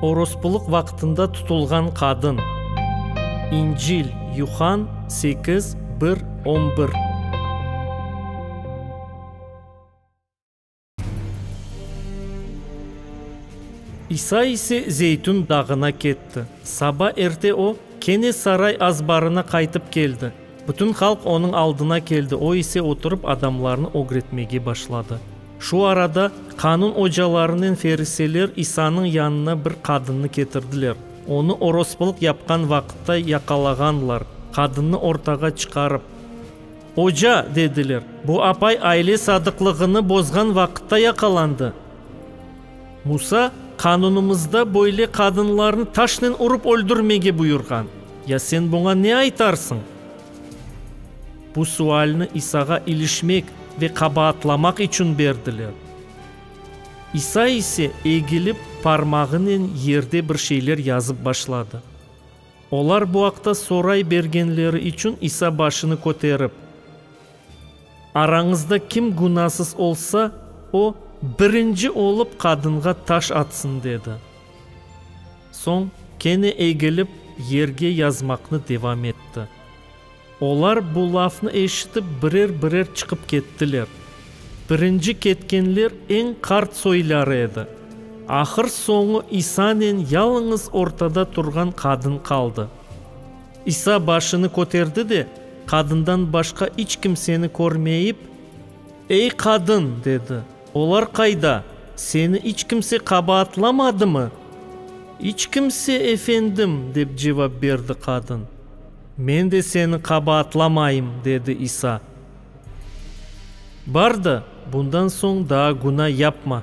Orospulıq vaqtında tutulğan qadın. İncil, Yuhann, sekiz, bir, on bir. İsa ise Zeytün dağına ketti. Saba erte o, kene saray azbarına qaytıp keldi. Bütün halq onıñ aldına keldi, o ise oturıp adamlarnı ögretmege başladı. Şu arada qanun ocalarınen feriseler İsanıñ yanına bir qadınnı ketirdiler. Onı orospılıq yapqan vaqıtta yaqalağanlar, qadınnı ortağa çıqarıp, Oca, dediler, bu apay aile sadıqlığını bozğan vaqıtta yaqalandı. Musa, qanunımızda böyle qadınlarnı taşnen urıp öldürmege buyurğan. Ya sen buña ne aytarsıñ? Bu sualni İsağa ilişmek ve qabaatlamaq içün berdiler. İsa ise egilip, parmağınen yerde bir şeyler yazıp başladı. Olar bu aqta soray bergenleri içün İsa başını köterip. Arañızda kim gunasız olsa, o, birinci olıp qadınğa taş atsın, dedi. Soñ kene egilip, yerge yazmaqnı devam etti. Olar bu lafnı eşitip, birer-birer çıqıp kettiler. Birinci ketkenler eñ qart soyları edi. Ahır soñu İsanen yalıñız ortada turğan qadın qaldı. İsa başını köterdi de, qadından başqa iç kimseni körmeyip, Ey qadın! dedi, olar qayda? Seni iç kimse qabaatlamadımı? İç kimse, Efendim, dep cevap berdi qadın. Men de seni qabaatlamayım, dedi İsa. Bar da, bundan soñ daa günâ yapma.